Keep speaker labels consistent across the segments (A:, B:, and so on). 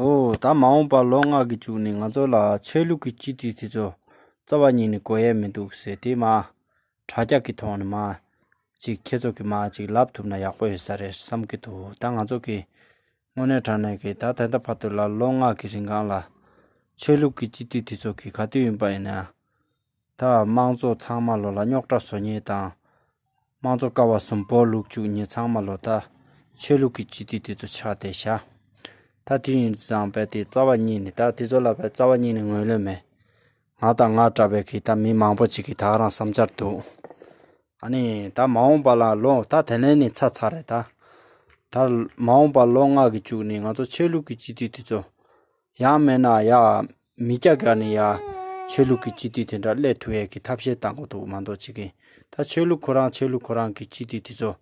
A: འོ་ད་མ་འོངས་པ་ལོ་ལྔ་གི་བཅུག་ནས་ང་ཚོ་ལ་ཆོས་ལུགས་ཀྱི་སྤྱི་འཐུས་དེ་ཚོ་རྩ་བ་ཉིད་ནས་གོ་ཡས་མི་འདུག་ཟེར་དུས་མ། དྲ་རྒྱ་གི་ཐོག་ནས་མ། ཅིག་ཁྱེད་ཚོ་གི་མ་ཅིག་ལབ་ཐུབ་ན་ཡག་པོ་ཡོད་ས་རེད་བསམ་གྱི་འདུག་ད་ང་ཚོ་གི། དངོས་གནས་དྲང་གནས་གི་ད་ད་ལྟ་བར་དུ་ལ་ལོ་ལྔ་གི་རིང་གང་ལ། ཆོས་ལུགས་ཀྱི་སྤྱི་འཐུས་དེ་ཚོ་གི་ག་དུས་ཡིན་པ་ཡིན་ན། ད་དམངས་གཙོ་ཚང་མ་ལོ་ལ་རྙོག་དྲ་བཟོ་ཉེས་དང། དམངས་གཙོ་ཀ་བ་གསུམ་བོར་ལུགས་བཅུག་ཉེས་ཚང་མ་ལོ་ད། ཆོས་ལུགས་ཀྱི་སྤྱི་འཐུས་དེ་ཚོ་ཕྱག་དེ་བཞག། ད་དུས་ཡིན་ཙང་བལ་དེ་རྩ་བ་ཉིད་ནས་ད་དེ་ཚོ་ལ་བལ་རྩ་བ་ཉིད་ནས་ངོས་ལེན་མེད། ང་དང་ང་འདྲ་བའི་གིས་ད་མི་མང་པོ་ཅིག་གིས་ད་རང་བསམ་འཆར་འདུག། ཨ་ནི་ད་མ་འོངས་པ་ལ་ལོ་ད་དེ་ལན་ནི་ཚར་ཚར་རེད་ད། ད་མ་འོངས་པ་ལོ་ལྔ་གིས་བཅུག་ནས་ང་ཚོ་ཆོས་ལུགས་ཀྱི་སྤྱི་འཐུས་དེ་ཚོ། ཡག་མེད་ན་ཡག། མི་སྐྱ་ག་ནས་ཡ། ཆོས་ལུགས་ཀྱི་སྤྱི་འཐུས་དེ་འདྲ་སླད་ཐུ་ཡས་ཀྱི་ཐབས་ཤེས་བཏང་གོ་འདུག་མ་འདོག་བྱེད་མཁན་ད་ཆོས་ལུགས་ཁོ་རང་ཆོས་ལུགས་ཁོ་རང་གི་སྤྱི་འཐུས་དེ་ཚོ།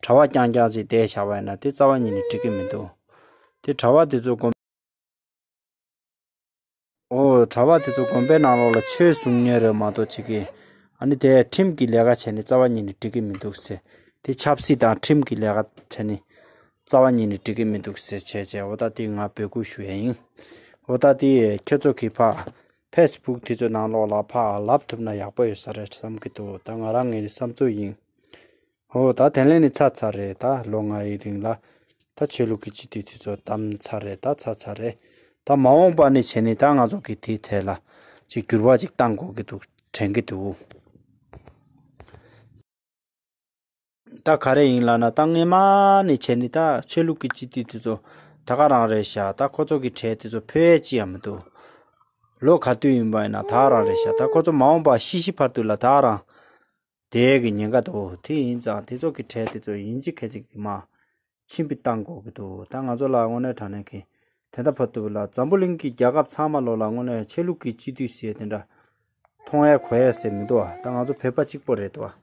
A: གྲྭ་བ་རྐྱང་རྐྱང་ཅིག་བསྡད་བཞག་པ་ཡིན་ན་དེ་རྩ་བ་ཉིད་ནས་འགྲིག་གི་མི་འདུག་དེ་གྲྭ་བ་དེ་ཚོ་དགོན། འོ། གྲྭ་བ་དེ་ཚོ་དགོན་པའི་ནང་ལོགས་ལ་ཆོས་གསུང་ཉན་རོལ་མ་འདོག་བྱེད་མཁན། ཨ་ནི་དེས་ཁྲིམས་ཀྱི་ལས་ཀ་བྱས་ནས་རྩ་བ་ཉིད་ནས་འགྲིག་གི་མི་འདུག་ཟེར། དེ་ཆབ་སྲིད་དང་ཁྲིམས་ཀྱི་ལས་ཀ་བྱས་ནས། རྩ་བ་ཉིད་ནས་འགྲིག་གི་མི་འདུག་ཟེར་བྱས་བྱས་འོ་ད་ཏི་ང་བོད་སྒུག་ཞུ་ཡས་ཡིན། འོ་ད་ཏི་ཁྱོད་ཚོ་གི་ཕ། ཕེས་སྦུག་དེ་ཚོའི་ནང་ལོག་ལ་ཕ་ལབ་ཐུབ་ན་ཡག་པོ་ཡོད་ས་རེད་བསམ་གི་འདུག་ད་ང་རང་ངའི་བསམ་ཚུལ་ཡིན། འོ་ད་དེ་ལན་ནི་ཚར་ཚར་རེད་ད་ལོ་ལྔ་ཡི་རིང་ལ། ད་ཆོས་ལུགས་ཀྱི་སྤྱི་འཐུས་དེ་ཚོ་བདམ་ཚར་རེད་ད་ཚར་ཚར་རེད། ད་མ་འོངས་པ་ནི་བྱས་ནི་ད་ང་ཚོ་གི་དེའི་ཐད་ལ། ཅིག་འགྱུར་བ་ཅིག་བཏང་དགོས་གི་འདུག་དྲན་གི་འདུག། ད་ག་རེ་ཡིན་ལབ་ན་ད་སྔས་མ་ནས་བྱས་ནས་ད་ཆོས་ལུགས་ཀྱི་སྤྱི་འཐུས་དེ་ཚོ་ད་ག་རང་རེད་ཤག་ད་ཁོ་ཚོ་གི་གྲས་དེ་ཚོ་ཕོད་ཡས་ཅི་ཡང་མི་འདུག་ལོ་ག་དུས་ཡིན་པ་ཡིན་ན་ད་རང་རེད་ཤག་ད་ཁོ་ཚོ་མ་འོངས་པ་ཤི་ཤི་བར་དུ་ལ་ད་རང་དེའི་གི་ཉེན་ཁ་འདུག་དེ་ཡིན་ཙང་དེ་ཚོ་གི་གྲས་དེ་ཚོ་ཡིན་ཅི་ག་ཅི་གི་མ། ཕྱིན་པའི་གཏམ་གོ་གི་འདུག་ད་ང་ཚོ་ལ་དངོས་གནས་དྲང་གནས་མཁན་དེ་འདྲ་ཕ་ཐུབ་ལ་འཛམ་བུ་གླིང་གི་རྒྱལ་ཁབ་ཚང་མ་ལོ་ལ་དངོས་གནས་ཆད་ལུགས་ཀྱི་སྤྱི་འཐུས་ཞེས་དེ་འདྲ་མཐོང་ཡས་གོ་ཡས་ཟེར་མི་འདུག་ཨ་ད་ང་ཚོ་བོད་པ་གཅིག་པོ་རེད་འདུག་ཨ།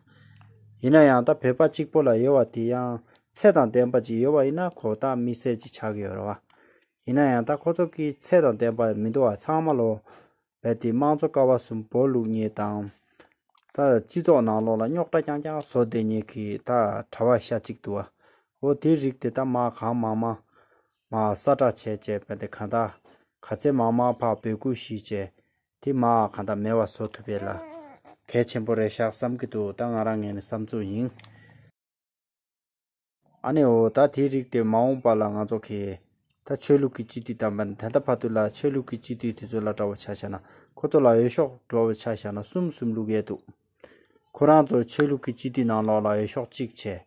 A: ཡིན་ན་ཡང་ད་བོད་པ་གཅིག་པོ་ལ་ཡོད་བ་དེ་ཡང་ཚད་དང་ལྡན་པ་ཅིག་ཡོད་བ་ཡིན་ན་ཁོ་ད་མི་བསད་ཅིག་ཆགས་ཀྱི་ཡོད་རེད་བ། ཡིན་ན་ཡང་ད་ཁོ་ཚོ་གི་ཚད་དང་ལྡན་པ་མི་འདུག་ཨ་ཚང་མ་ལོ་རྦད་དེ་དམངས་གཙོ་ཀ་བ་གསུམ་བོར་བླུགས་ཉེས་དང། ད་སྤྱི་ཚོགས་ནང་ལོགས་ལ་རྙོག་དྲ་རྐྱང་རྐྱང་བཟོ་བསྡད་ཉེས་ཀྱི་ད་གྲྭ་བ་ཤ་གཅིག་འདུག་བའོ། དེའི་རིགས་དེ་དག་མང་གང་མང་མང་མ་ས་བསྒྲགས་བྱས་བྱས་རྦད་དེ་གང་དག་ག་ཚད་མང་མང་ཕག་འབོད་སྐུལ་ཞིག་བྱས་དེ་མ་གང་དག་མེད་བ་བཟོ་ཐུབ་པའི་ལ་གས་ཆེན་པོ་རེད་ཤག་བསམ་གྱི་འདུག་ད་ང་རང་ངས་ནི་བསམ་ཚུལ་ཡིན། ཨ་ནེ་འོ་ད་དེའི་རིགས་དེ་མ་འོངས་པ་ལ་ང་ཚོ་གས། ད་ཆོས་ལུགས་ཀྱི་སྤྱི་འཐུས་དམ་པ་ནི་དན་ད་བྷ་དུ་ལ་ཆོས་ལུགས་ཀྱི་སྤྱི་འཐུས་དེ་ཚོ་ལ་དྲ་བ་ཆ་བཞག་ན་ཁོ་ཚོ་ལ་འོས་ཤོག་དྲོ་བ་ཆ་བཞག་ན་གསུམ་གསུམ་ལུགས་ཡས་འདུག། ཁོ་རང་ཚོ་ཆོས་ལུགས་ཀྱི་སྤྱི་འཐུས་ནང་ལོགས་ལ་འོས་ཤོག་གཅིག་བྱས།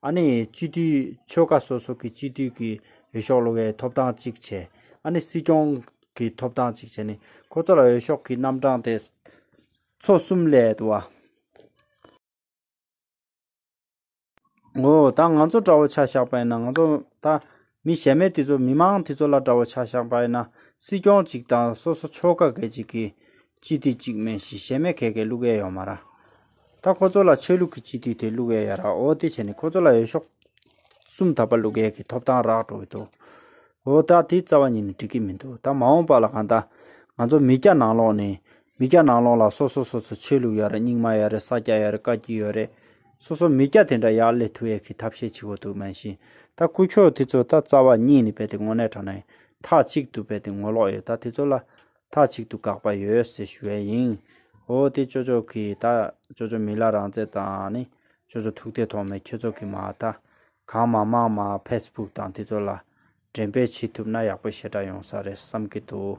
A: ཨ་ནེ་ཡས་སྤྱི་འཐུས་ཆོལ་ཁ་སོ་སོ་གི་སྤྱི་འཐུས་ཀྱི་འོས་ཤོག་ལོ་བའི་ཐོབ་ཐང་གཅིག་བྱས། ཨ་ནེ་སྲིད་སྐྱོང་གི་ཐོབ་ཐང་གཅིག་བྱས་ནས་ཁོ་ཚོ་ལ་འོས་ཤོག་གི་རྣམ་གྲངས་དེ་ཚོ་གསུམ་ལས་འདུག་བ། ངོ། ད་ང་ཚོ་འདྲ་བོ་ཆ་བཞག་པ་ཡིན་ན་ང་ཚོ་ད་མི་གཞན་མེད་དེ་ཚོ་མི་མང་དེ་ཚོ་ལ་འདྲ་བོ་ཆ་བཞག་པ་ཡིན་ན་སྲིད་སྐྱོང་གཅིག་དང་སོ་སོ་ཕྱོགས་ཀ་གེ་གཅིག་གིས་སྤྱི་འཐུས་གཅིག་མེད་བཞི་གཞན་མེད་གེ་གེ་བླུག་ཨེ་ཡོང་མ་ར། ད་ཁོ་ཚོ་ལ་ཆོས་ལུགས་ཀྱི་སྤྱི་འཐུས་དེ་བླུག་ཨེ་ཡ་ར་འོ་དེ་བྱས་ནས་ཁོ་ཚོ་ལ་འོས་ཤོག་གསུམ་ད་པ་བླུག་ཨེ་གི་ཐོབ་ཐང་རག་འགྲོ་གི་འདུག་འོ་ད་དེ་རྩ་བ་ཉིད་ནས་འགྲིག་གི་མི་འདུག་ད་མ་འོངས་པ་ལ་གང་ད་ང་ཚོ་མི་སྐྱ་ནང་ལོགས་ནས་མི་སྐྱ་ནང་ལོག་ལ་སོ་སོ་སོ་སོ་ཆོས་ལུགས་ཡོད་རེད་རྙིང་མ་ཡོད་རེད་ས་སྐྱ་ཡོད་རེད་བཀའ་བརྒྱུད་ཡོད་རེད། སོ་སོ་མི་སྐྱ་དེ་འདྲ་ཡག་ལེ་ཐུ་ཡག་གི་ཐབས་ཤེས་བྱེད་དགོས་འདུག་མན་ཤིང་ད་སྐུ་ཁྱོད་དེ་ཚོ་ད་རྩ་བ་ཉིད་ནས་བལྟས་ཏེ་ངོ་ནས་དྲ་ནས་ཐག་གཅིག་ཏུ་བལྟས་ཏེ་ངོ་ལོག་ཡོད་ད་དེ་ཚོ་ལ་ཐག་གཅིག་ཏུ་དགག་པ་ཡོད་ཟེར་ཞུ་བས་ཡིན། ཨོ་དེ་ཅོ་ཅོ་གི་ད་ཅོ་ཅོ་མི་ལ་རང་བཙན་དང་ནི་ཅོ་ཅོ་ཐུགས་ཐེ་ཐོག་མེད་ཁྱོད་ཚོ་གི་མ་ད་གང་མ་མང་མ་ཕེས་སྤུག་དང་དེ་ཚོ་ལ། འགྲེམས་སྤེལ་བྱེད་ཐུབ་ན་ཡག་པོ་ཞེ་དྲག་ཡོང་ས་རེད་བསམ་གི་འདུག།